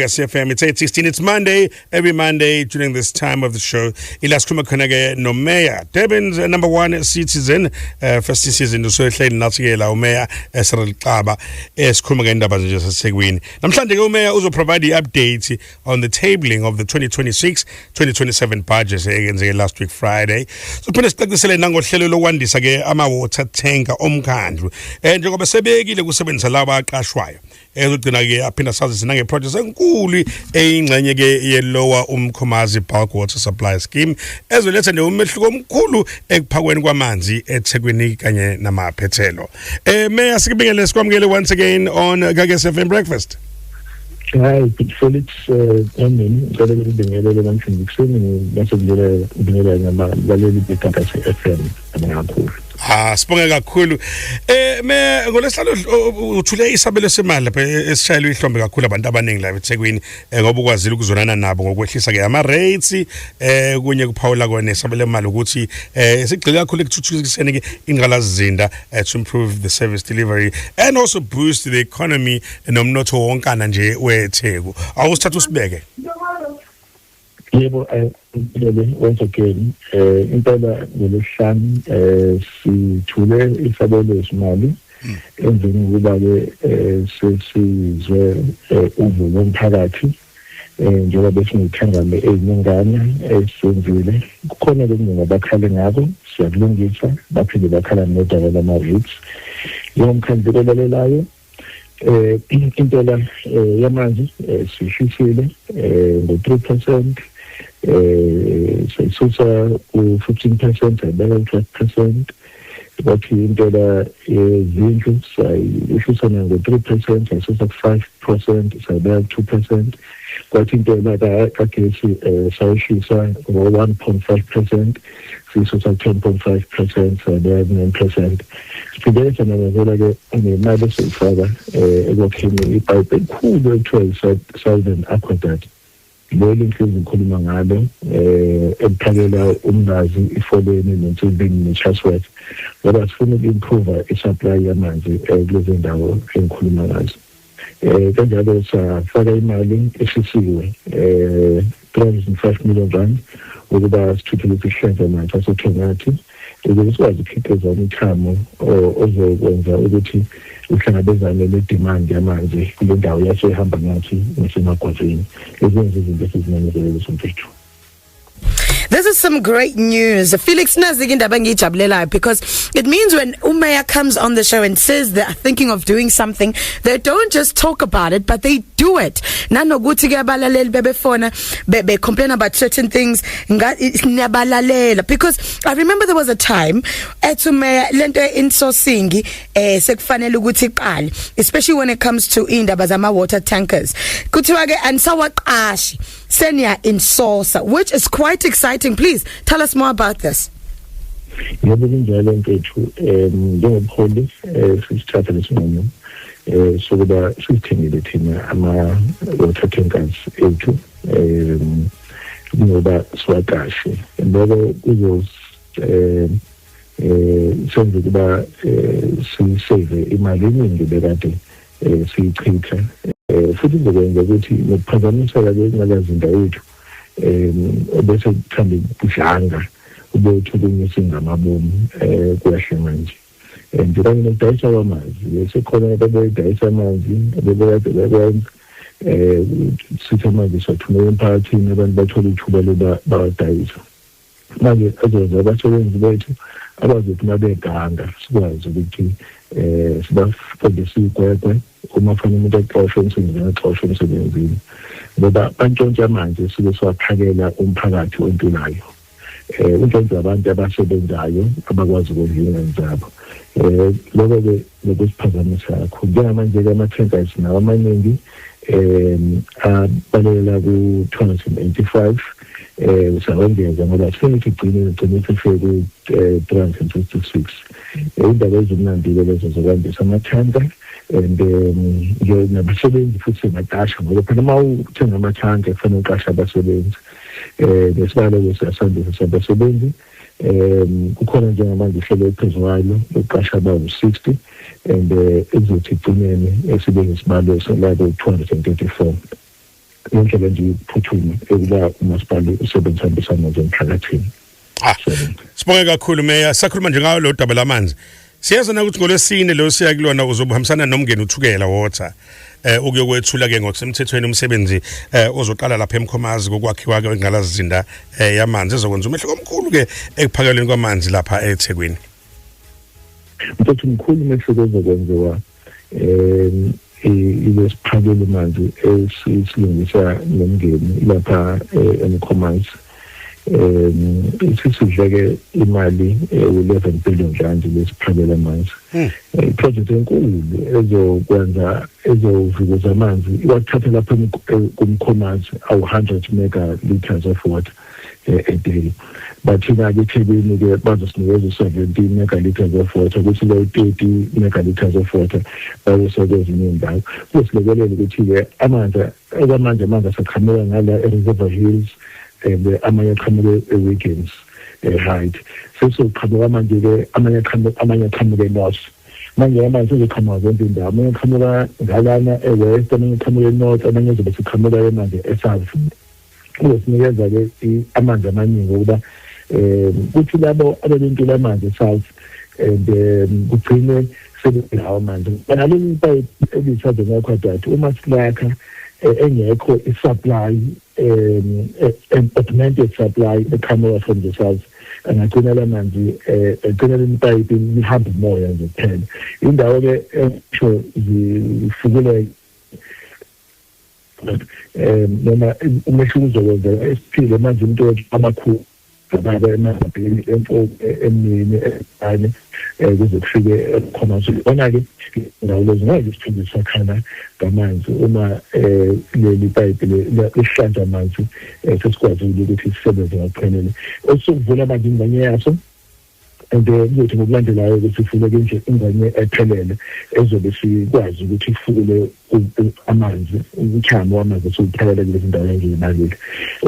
CFM. It's 8.16. It's Monday. Every Monday during this time of the show, ilaskuma khona-ke nomeya Durban's uh, number one citizen uh, first citizen usehleli nathi-ke la umeya esrel xaba esikhuluma ngendaba nje sasethekwini namhlanje-ke umeya uzoprovide i-update on the tabling of the 2026-2027 budget eyenzeke last week friday sophinde sicacisele nangohlelo lokwandisa-ke ama-water tanker omkhandlu um njengoba sebekile kusebenzisa laba aqashwayo ezogcina ke aphinda sazise nangeproject enkulu eyingxenye ke yelowa umkhomazi bulk water supply scheme ezoletha nje umehluko omkhulu ekuphakweni kwamanzi eThekwini kanye namaphethelo eh mayor sikubingele sikwamukele once again on Gagesi FM breakfast Hi, good Felix. Amen. Eh, Ngicela ukubingelela namhlanje kuseni bese ngibingelela ngabalaleli beGagasi FM. kakhulu Ah sibonge kakhulu. Eh me ngolesihlalo uthule isabelo semali lapha e, esishayelwe ihlombe kakhulu abantu abaningi la eThekwini eh, ngoba ukwazile ukuzonana nabo ngokwehlisa ke ama rates eh kunye kuphawula kona isabelo mali ukuthi eh sigxile kakhulu ekuthuthukiseni ke ingqalazizinda eh, to improve the service delivery and also boost the economy nomnotho wonkana nje weTheku. Awusithatha usibeke. yebo ngilele eh, once again eh impela ngolesihlanu eh sithule isabelo semali hmm. emveni kokuba ke eh, sesizwe eh, uvulo omphakathi eh njengoba besingithangame eziningana esenzile kukhona lokunga bakhale ngako siyakulungisa baphinde bakhala nodaba lama rates yomkhandlu olalelayo eh intela eh, yamanzi eh, sishisile eh, ngo-3% eh sisusa u-15% sabeka u-12% bathi intela yezindlu eh, sayishisa nango-three percent yasusa ku-five percent sayibeka ku-two percent kwathi intela kagesi um eh, sayishisa ngo-one point five percent siso sa 10.5 percent ne-nine percent siphinde sanamezela-ke nemali esiyifaka um ekwakheni ipayipi elikhulu ekuthiwa yi-southern aquadat leli ngihlezi ngikhuluma ngalo um eliphakela umnazi ifoleni nensibini ne-chasworth ngoba sifuna uku-improva i-supply yamanzi um kulezi ndawo engikhuluma ngazo eh kanjalo safaka imali eshisiwe eh 305 million rand ukuba sithuthukise isihlenza amanzi asothongathi ukuze sikwazi ukukhiqiza umthamo ozokwenza ukuthi uhlangabezane ne-demand yamanzi kule ndawo yasoyihamba ngathi nasemagwazini ezenza izinto esizimemezele leso mfethu This is some great news. Felix nazi indaba engijabulelayo because it means when uMayor comes on the show and says they are thinking of doing something, they don't just talk about it but they do it. Nanokuthi ke abalaleli bebefona be, be complain about certain things ngiyabalalela because I remember there was a time ethi uMayor lento insosingi eh sekufanele ukuthi iqale especially when it comes to indaba zama water tankers. Kuthiwa ke anisawaqashi seniya insosa which is quite exciting please tell us more about this yebo kunjalo mfethu um njengobuholi um sisithatha lesinqumo um sokuba sizithengele thina ama-water tankers ethu um ngoba siwaqashe loko kuzos um um senze ukuba um sisave imali eningi bekade um siyichitha um futhi kuzokwenza ukuthi nokuphazamiseka kwengqalazinda yethu um obese kuthanda ukudlanga ube uthukunye singamabomu um kuyahle manje um njenganye nokudayisa kwamanzi sekhona abebeyidayisa amanzi abebekade bekwenza um sithi amanzi siwathumela emphakathini abantu bathole ithuba loba bawadayisa manje ezenza abasebenzi bethu abazothi uma beganga sikwazi ukuthi um sibafundise iy'gwegwe uma funa umuntu exoshwe emsebenzini exoshwe emsebenzini ngoba bantshontshe amanzi esuke siwaphakela umphakathi ontulayo um untshontshe abantu abasebenzayo abakwazi ukondla iy'ngane zabo um loko-ke nokusiphazamisa kakhulu njengamanje-ke ama-tankers nawo amaningi um abalekela ku-two hundred and eighty five um usawengeza ngoba sifike sigcine sigcine sifike ku-three eh, hundred and fifty six eh, indaba ezimnandi-ke lezo zokwandisa amathanka and um nabasebenzi futhi singaqasha ngoba phela uma uthenga amathanka kufanele uqashe abasebenzi um nesibalo-ke siyasandisa sabasebenzi um kukhona njengamanje uhlelo ephezu kwalo lokuqasha abawu-60 and eh, ekuzothi igcinene esibe ngesibalo eselako 234 ngendlela nje yokuphuthuma ekuba umasipala usebenzisambisana nje emphakathini sibonge kakhulu meya sakhuluma nje ngayo lo daba lamanzi siyazi na ukuthi ngolwesine lo siya kulona uzobuhambisana nomngeni uthukela water eh ukuyokwethula ke ngokusemthethweni umsebenzi eh ozoqala lapha emkhomazi kokwakhiwa ke ngalazinda eh yamanzi ezokwenza umehluko omkhulu ke ekuphakelweni kwamanzi lapha eThekwini mfethu mkhulu umehluko ozokwenziwa um ilesiphakele manje esilungisa nomndeni lapha eh, emkhomansi um isisidleke imali ewu-eleven eh, billion rand lesiphakele amanzi hmm. eh, iprojekthi enkulu ezokwenza ezovukuza amanzi iwathatha lapha kumkhomansi awu-hundred mega litres of water eh, a day but thina ke eThekwini ke bazosinikeza u-17 megalitres of water kuthi lo 30 megalitres of water bayosoke ezinye indawo kusilekelela ukuthi-ke amanzi okwamanje amanzi asaqhamuka ngala e-reserver hills and eh, amanye aqhamuke e-wiggins eh, right sesizoqhamuka manje-ke amanye aqhamuke north manje amanzi sezoqhamuka zonke indawo amanye aqhamuka ngalana e-west amanye aqhamuka e-north amanye ezobe siqhamuka emanje e-south uzosinikeza-ke amanzi amaningi okuba um kuthi labo abebentula amanzi e-south and um kugcine sebelawo amanzi ngaleli ipayipi elisade ngakwadati uma silakha eh, engekho i-supply um augmented supply eqhamuka from the south angagcina la manzi um agcinela ipayipi lihambe umoya nje kuphela indawo-ke esho zifukuleke eh noma umehluko uzokwenzeka esiphile manje into amakhulu ngababa emabhini emfoko emini ekanye eh, kuze kufike khona nje ona ke ndawo lezi ngeke sithunde sakhana ngamanzi uma eh, leli pipe lehlanza amanzi eh, sesikwazi ukuthi sisebenze ngokuphelele osokuvula amanzi ingxenye yaso and eh, kuzothi ngokulandelayo ukuthi funeke nje ingwanye ephelele ezobe sikwazi ukuthi ifukule amanzi umthamo wamanzi siwuphelele kulezi ndawo engiyibalile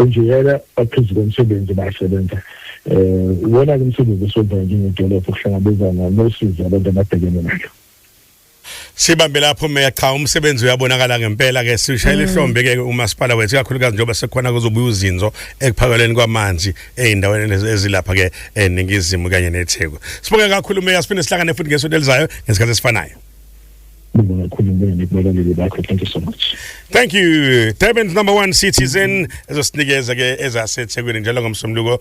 enjeyela baphezu komsebenzi basebenza um iwona-ke umsebenzi esiwenzayo njengedolobha ukuhlangabezana nosizi abantu ababhekene nalo Sibambe lapho meya cha umsebenzi uyabonakala ngempela ke sishayela mm. ihlombe ke umasipala wethu kakhulukazi njengoba sekukhona kuzobuya uzinzo ekuphakelweni kwamanzi ezindaweni ezilapha ke eningizimu kanye neTheku. Sibonge kakhulu meya siphinde sihlangane futhi ngesonto elizayo ngesikhathi esifanayo. Ngibonga kakhulu ngibonga nekubalaleli bakho thank you so much. Thank you. Durban's number 1 citizen ezosinikeza ke ezaseThekwini njalo ngomsomluko